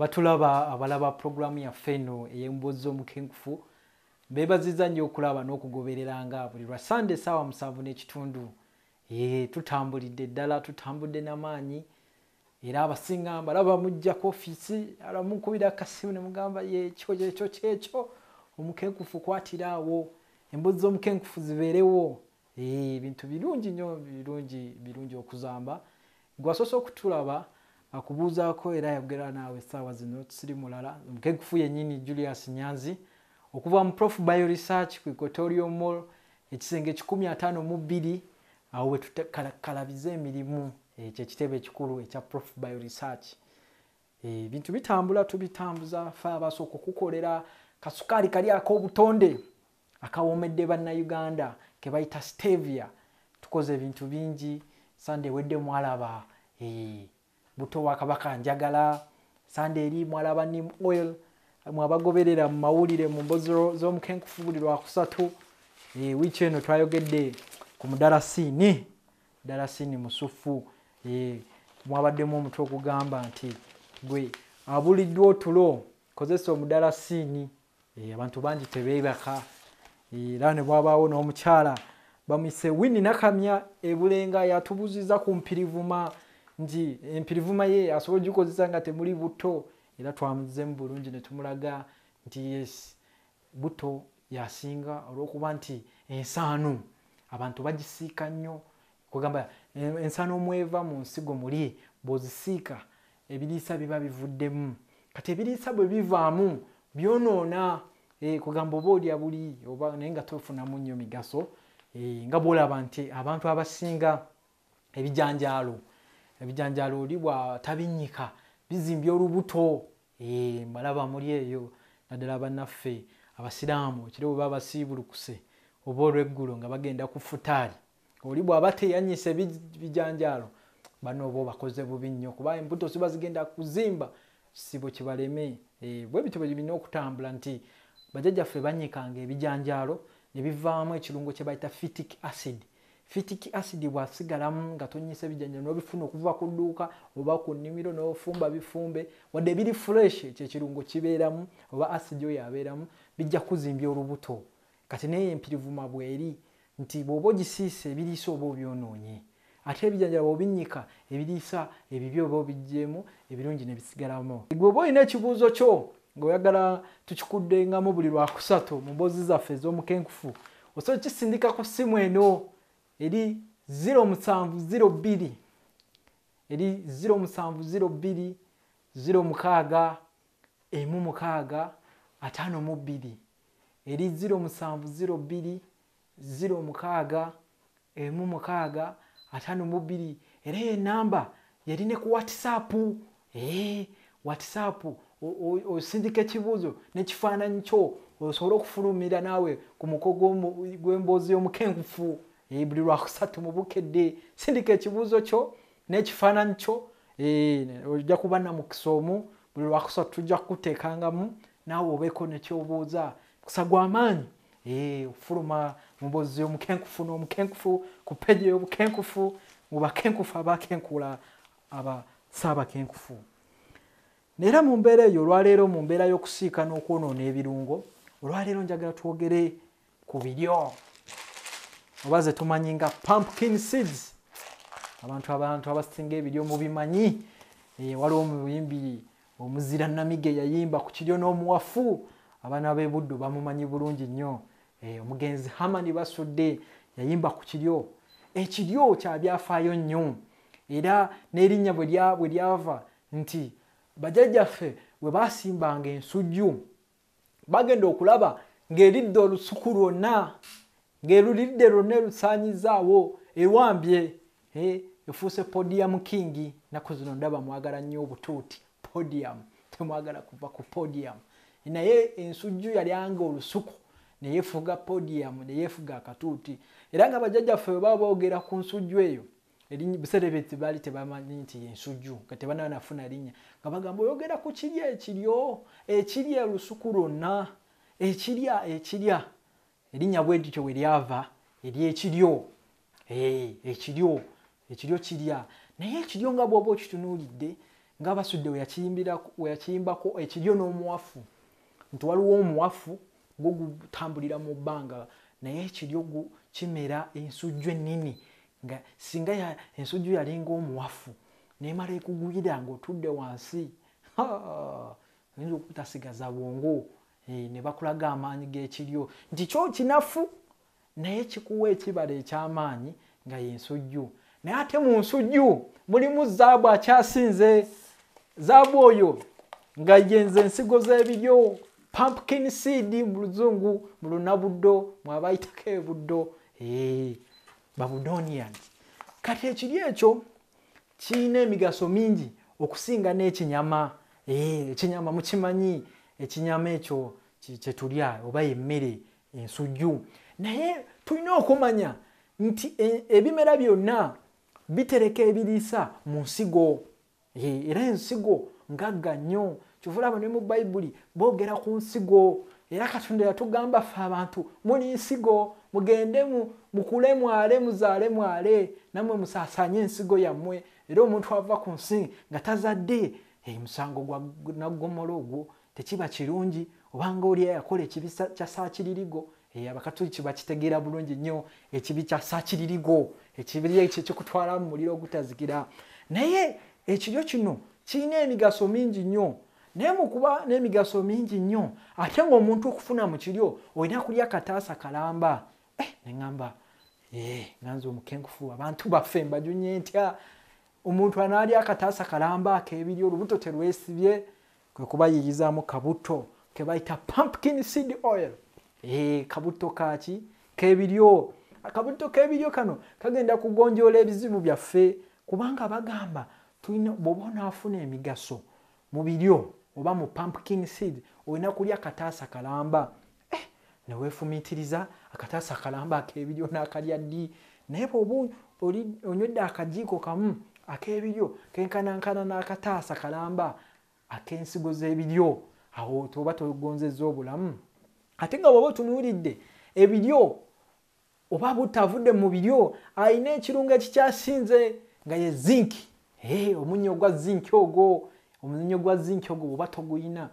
abatulaba abalaba pulogulaamu yaffe eno ey'emboozi z'omukenkufu beebaziza nnyo okulaba n'okugobereranga buli lwa sande esaawa musanvu n'ekitundu ye tutambulidde ddala tutambudde n'amaanyi era abasinga mbalaba mujja ku ofiisi alamukubira akasimu ne mugamba yekyo yekyo kyekyo omukenkufu kwatira awo embozi z'omukenkufu zibeerewo ebintu birungi nnyo birungi birungi okuzamba gwasoose okutulaba akubuuzaako era yagera naawe essaawa zino tusiri mulala omukenkufu yennyini julius nyanzi okuva mu prof bio research ku equatorial mall ekisenge kikumi ataano mu bbiri Awo we tutekalakalabiza emirimu ekyo eh, ekitebe ekikulu ekya Prof Bio Research. Eh, ebintu e, bitambula tubitambuza fe abasooka okukolera kasukaali kali ak'obutonde akawomedde bannayuganda ke bayita stevia. Tukoze ebintu bingi sande wedde mwalaba. Eh, buto wa kabaka njagala sande eri mwala ba nim oil mwabagoberera mu mawulire mu mbozi z'omukenkufu buli lwakusatu e, wiiki eno twayogedde ku mudarasiini darasiini musufu e, mwabaddemu omutwe ogugamba nti gwe abuliddwa otulo kozesa omudarasiini Eh, abantu bangi tebeebaka eh, era ne bwabaawo n'omukyala bamuyise winni nakamya ebulenga yatubuziza ku mpirivuma nti empirivuma ye asobola ogikozesa nga temuli butto era twamuzemu bulungi ne tumulaga nti yes butto yasinga olw'okuba nti ensaano abantu bagisiika nnyo Kwegamba ensano omweva mu nsigo muli bwozisiika ebiriisa biba bivuddemu kati ebiriisa bwe bivaamu byonoona eh, kwegamba oba olya buli oba naye nga tofunamu nnyo migaso eh, nga bwolaba nti abantu abasinga ebijanjaalo ebijanjaalo oli bwatabinnyika bizimbye olubuto eh, mbalaba muli eyo naddala banaffe abasiraamu ekiro bwe baba basiibulukuse oba olweggulo nga bagenda ku futaali oli bwaba teyanyise bijanjaalo bano oba obakoze bubi nnyo kuba embuto ziba zigenda kuzimba kisibo kibaleme eh, bwe bityo bwebirina okutambula nti bajajjaffe banyikanga ebijanjaalo ne bivaamu ekirungo kye bayita fitic acid fitic acid bwasigalamu nga tonyisa ebijanjaalo nobifuna okuva ku dduuka oba ku nnimiro nofumba bifumbe wadde biri fresh ekyo ekirungo kibeeramu oba acid oyo abeeramu bijja kuzimbya olubuto Kati n'eyo empirivuma bw'eri nti bw'oba ogisiise ebiriisa oba obyonoonye. Ate ebijanjaalo bw'obinnyika ebiriisa ebibi oba obiggyeemu, ebirungi ne bisigalamu. Ggwe oba olina ekibuuzo kyo ng'oyagala tukikuddengamu buli Lwakusatu mu mboozi zaffe ez'omukenkufu, osobola okukisindika ku ssimu eno eri ziro musanvu ziro bbiri eri ziro musanvu ziro bbiri ziro mukaaga emu mukaaga ataano mu bbiri. eri ziro musanvu ziro bbiri ziro mukaaga emu mukaaga ataano mu bbiri era eyo enamba yali ne ku whatsapp ee eh, whatsapp osindika ekibuuzo nekifaananyi kyo osobole okufulumira naawe ku muko gw'emboozi y'omukenkufu eh, buli lwakusatu mu bukedde sindika ekibuuzo kyo n'ekifaananyi kyo eh, ojja kuba namukisa omu buli lwakusatu tujja kukuteekangamu naawe obeeko nekyobuuza mukisa gwamaanyi eh, okufuluma mubozi omukenkufu n'omukenkufu ku peji ey'obukenkufu mu bakenkufu abakenkula aba saabakenkufu neera mu mbeera eyo olwaleero mu mbeera y'okusiika n'okwonoona ebirungo olwaleero njagala twogere ku biryo oba ze tumanyi nga pumpkin seeds abantu abantu abasinga ebiryo mubimanyi eh, waliwo omuyimbi omuzira namige yayimba ku kiryo n'omuwafu abaana b'ebuddu bamumanyi bulungi nnyo eh, omugenzi hamani basudde yayimba ku kiryo ekiryo kya byafaayo nnyo era n'erinnya bwe lyava nti bajajjaffe bwe basimbanga ensujju bagenda okulaba ng'eridde olusuku lwonna ng'eruliridde lwonna erusaanyizaawo ewambye eh, efuuse podiyamu kingi naku zino ndaba mwagala nnyo obutuuti podiyamu temwagala kuva ku podiyamu naye ensujju yalyanga olusuku neyefuga podiyamu neyefuga akatuuti era nga bajjajjaffe webaba boogera ku nsujju eyo ebiseera ebyo tebaali tebamanyi nti yensujju nga tebanaba nafuna linnya nga bagamba oyogera ku kirya ekiryo ekirya olusuku lwonna ekirya ekirya erinnya bwe lityo we lyava eryekiryo ekiryo ekiryo kirya naye ekiryo nga bwoba okitunuulidde nga basudde weyakiyimbako ekiryo n'omuwafu nti waliwo omuwafu gwo gutambulira mu bbanga naye ekiryo kimera ensujju ennene nga singa ya ensujju yalinga omuwafu nemala ekugwira ng'otudde wansi oyinza okutasigaza bwongo eh, ne bakulaga amaanyi g'ekiryo nti kyo kinafu naye kikuwa ekibala eky'amaanyi nga y'ensujju naye ate mu nsujju mulimu zaabu akyasinze zaabu oyo nga yenze ensigo z'ebiryo pumpkin seed mu luzungu mu lunabuddo mwabayitako ebuddo Eee, Babudonians. Kati ekiri ekyo kirina emigaso mingi okusinga n'ekinyama. Eee, ekinyama mukimanyi, ekinyama ekyo kyetulya oba emmere ensujju. Naye tulina okumanya nti e, ebimera byonna bitereka ebiriisa mu nsigo. Yee, era ensigo ngagga nnyo kyova olaba ne mu bayibuli boogera ku nsigo era katonda yatugamba ffe abantu muli nsigo mugende mukule mwale muzaale mwale nammwe musaasaanye ensigo yammwe era omuntu ava ku nsi nga tazadde hey, musango gwa naggomola ogwo tekiba kirungi obanga oli eyakola ekibi kya saakiririgo Eh, abakatuliki bakitegeera bulungi nnyo ekibi kya sakiririgo ekibi ekyo kikutwala mu muliro ogutazikira naye ekiryo kino kirina emigaso mingi nnyo naye mukuba n'emigaso mingi nnyo ate ngaomuntu okufuna mu kiryo olina kulya kataasa kalamba eh, neamba eh, nganze omukenkufu abantu baffe mbajunye ntya omuntu anaalya akataasa kalamba ak'ebiryo olubuto terwesibye Kwe kubayiiyizaamu kabutto ke bayita pumpkin seed oil. Eehh kabutto ka ki? K'ebiryo. Akabutto k'ebiryo kano kagenda kugonjoola ebizibu byaffe kubanga bagamba tulina bw'oba onaafuna emigaso mu biryo oba mu pumpkin seed olina kulya kataasa kalamba eh, ne weefumiitiriza akataasa akalamba ak'ebiryo n'akalya ddi naye bwoba onywedde akajiiko kamu ak'ebiryo kenkanankana n'akataasa kalamba ak'ensigo z'ebiryo awo toba togonzezza obulamu ate nga bwoba otunuulidde ebiryo oba butta avudde mu biryo alina ekirungo ekikyasinze nga ye zinki hey, omunyo ogwa zinki ogwo omunyo gwa zinki ogwo oba toguyina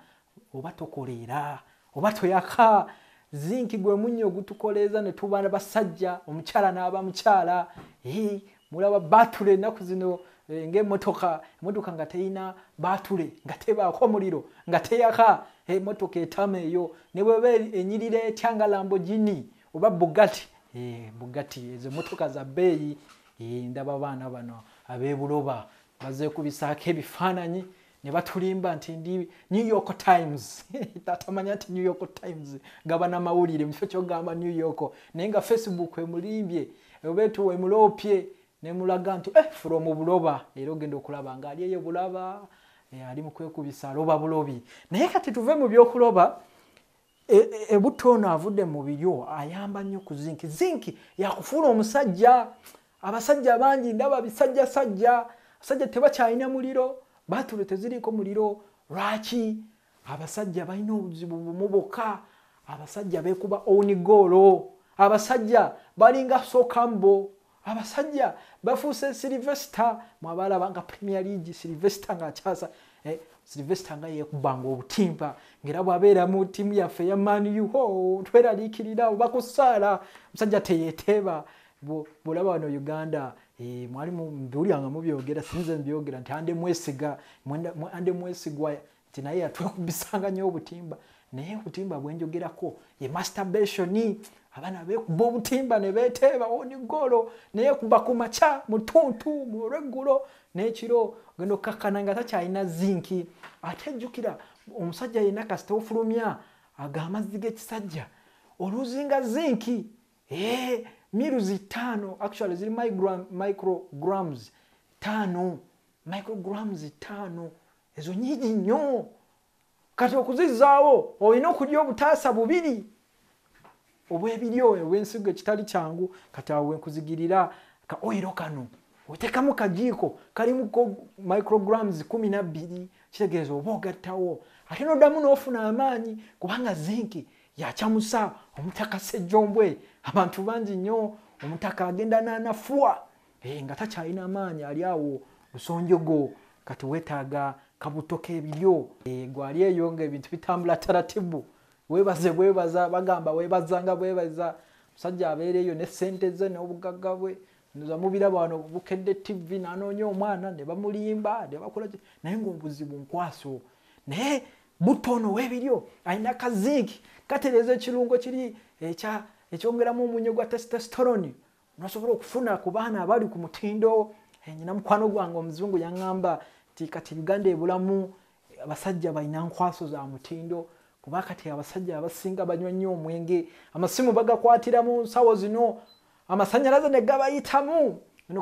oba tokoleera oba toyaka zinki gwe munyo ogutukoleeza ne tuba basajja omukyala n'aba mukyala hey, mulaba batule ennaku zino eh, ngaemotoka emotoka nga teyina batule nga tebaako omuliro nga teyaka emotoka etama eyo ne bweba enyirira etya nga lambogini oba bugati eh, bugati ezo motoka za beeyi eh, ndaba abaana bano abebuloba bazekubisaako ebifaananyi ne batulimba nti ndi new york times tatamanya nti new york times gaba namawulire mukifo kyogamba new york naye nga facebook emulimbye obetu emuloopye nemulaga nti eh, fula omubuloba era ogenda okulaba nga ali eyo bulaba eh, ali mukwekubisa aloba bulobi naye kati tuve mu byokuloba E, e, ebutto ono avudde mu biryo ayamba nnyo ku zinki zinki yakufuula omusajja abasajja bangi ndaba bisajja sajja abasajja tebakyalina muliro batulo teziriiko muliro lwaki abasajja balina obuzibu bumu bokka abasajja bekuba onigoolo abasajja balinga sokambo Abasajja bafuuse Sylvester mwabalaba nga Premier League Sylvester nga akyasa eh, Sylvester nga yekubanga obutimpa ngera bwabeera mu timu yaffe ya Man U ho tweralikirira oba kusaala musajja teyeteeba bwolaba wano Uganda eh, mwali mbiwulira nga mubyogera sinze mbyogera nti ande mwesiga ande mwesigwa nti naye yatwekubisanga nyo obutimba naye obutimba bwenjogerako ye masturbation abaana bekuba obutimba nebeteeba oni golo naye kuba ku makya mutuntu mulweggulo nekiro ogenda okkakkana nga takyalina zinki ate jjukira omusajja yenna kasita ofulumya aga amazzi g'ekisajja oluzinga zinki ee miruzi ttaano actually ziri micrograms ttaano micrograms ttaano ezo nyingi nnyo kati okuzizaawo olina okulya obutaasa bubiri obwebiryo obwensigo ekitali kyangu kati awo wenkuzigirira ka oiro kano otekamu kajiiko kalimu micrograms kumi nabbiri kitegeeza oba ogattawo ate noddamu n'ofuna amaanyi kubanga zinki yacamusa omutaka sejjombwe abantu bangi nnyo omutaka agenda nanafuwa Hey, eh, nga takyalina maanyi ali awo lusonjogo kati wetaaga kabuto kebiryo hey, eh, gwali eyo nga ebintu bitambula taratibu webaze bwebaza bagamba webazanga bwebaza musajja abeera eyo ne sente ze n'obugagga bwe nza mubiraba wano bukedde tv nanoonya omwana ne bamulimba ne bakola naye ngaobuzibu nkwaso naye butto ono webiryo alina kazinki katereeza ekirungo kiri ekya ekyongeramu omunyo gwa testosterone nosobola okufuna ku baana abali ku mutindo eh, nyina mukwano gwange omuzungu yaŋamba nti kati uganda ebulamu eh, abasajja balina nkwaso za mutindo kuba kati abasajja abasinga banywa nnyo omwenge amasimu bagakwatira mu nsawo zino amasanyalaze ne gabayitamu eno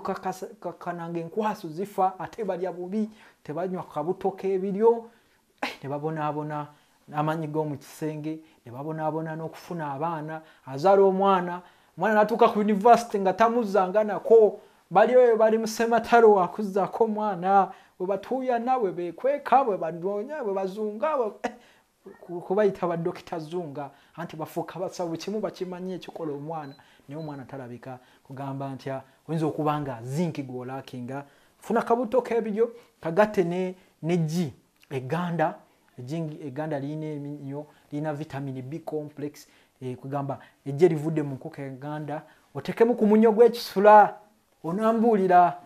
kakananga enkwaso zifa ate balya bubi tebanywa kabuto k'ebiryo ne babonaabona n'amaanyi g'omu kisenge ne babonaabona n'okufuna abaana azaala omwana omwana n'atuuka ku yunivasite nga tamuzanganako bali oyo bali musematalo wakuzaako omwana bwe batuuyana bwe beekweka bwe banoonya bwe bazunga eh, kubayita badokita zunga anti bafuuka basabu kimu bakimanyi ekikola omwana naye omwana talabika kugamba ntya oyinza okuba nga zinki gwolakinga funa kabutto k'ebiryo kagatte ne neggi egganda ejingi egganda lirina eminyo lirina vitamini b complex eh, kugamba ejje livudde mu nkoko egganda otekemu ku munyo gw'ekisula onambuulira